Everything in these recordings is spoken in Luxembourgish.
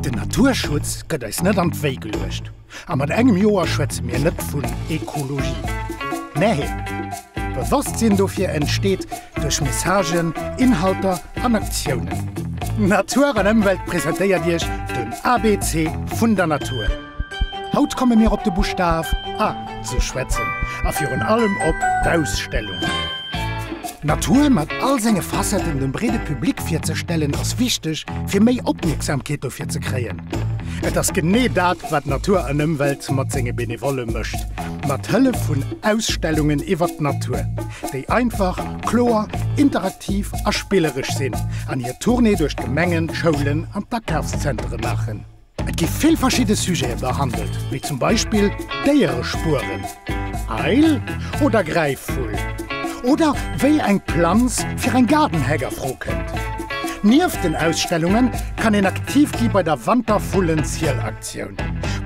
Den Naturschutz gëtt eis net an d'Wéi geluecht, a mat engem Joer schwätze mir net vun Ekologie. Nee, Bewosstsinn dofir entsteet duerch Messagen, Inhalter an Aktiounen. Natur an Ëmwelt presentéiert Iech den ABC vun der Natur. Haut komme mir op de Buschtaf A ze schwätzen a virun allem op d'Ausstellung. D'Natur mat all senge Facetten dem breede Public virzestellen ass wichteg fir méi Opmierksamkeet dofir ze kréien. Et ass genee dat wat Natur an Ëmwelt mat senge Benevolle mécht, mat Hëllef vun Ausstellungen iwwert d'Natur, déi einfach, kloer, interaktiv a spilleresch sinn an hir Tournée duerch d'Gemengen, d'Schoulen an d'Akafszentere maachen. Et gi vill verschidde Sujete behandelt, wéi zum Beispill Déierespueren, Eil oder Gräifvull, oder wéi eng Planz fir eng Gaardenhäck a Fro kënnt. Nieft den Ausstellunge kann een aktiv gi bei der Wantervullenzielaktioun,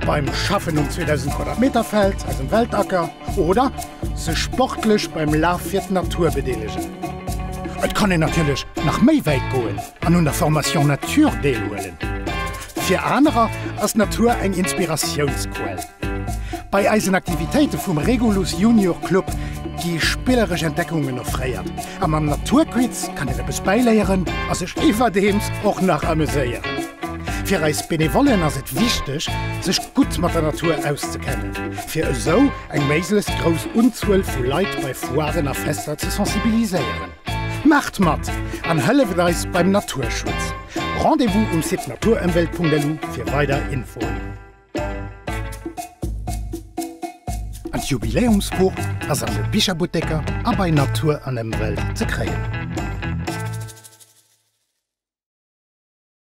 beim Schaffen um 2000 Quadratmeterfeld aus dem Weltacker oder sech sportlech beim Laf fir d'Natur bedeelegen. Et kann een natierlech nach méi wäit goen. An un der Formation Nature deelhuelen. Fir anerer ass d'Natur eng Inspiratiounsquell. Bei eisen Aktivitéite vum Regulus Junior Club gi spilleresch Entdeckungen offréiert a mam Naturquiz kann een eppes bäiléieren a sech iwwerdeems och nach ameséieren. Fir eis Benevollen ass et wichteg, sech gutt mat der Natur auszekennen, fir esou eng méiglechst grouss Unzuel vu Leit bei Foiren a Fester ze sensibiliséieren. Maacht mat an hëlleft eis beim Naturschutz! Rendez-vous um Site naturemwelt.lu fir weider Infoen. An d'Jubiläumsbuch ass an de Bicherbutteker a bei Natur an Emwelt ze kréien.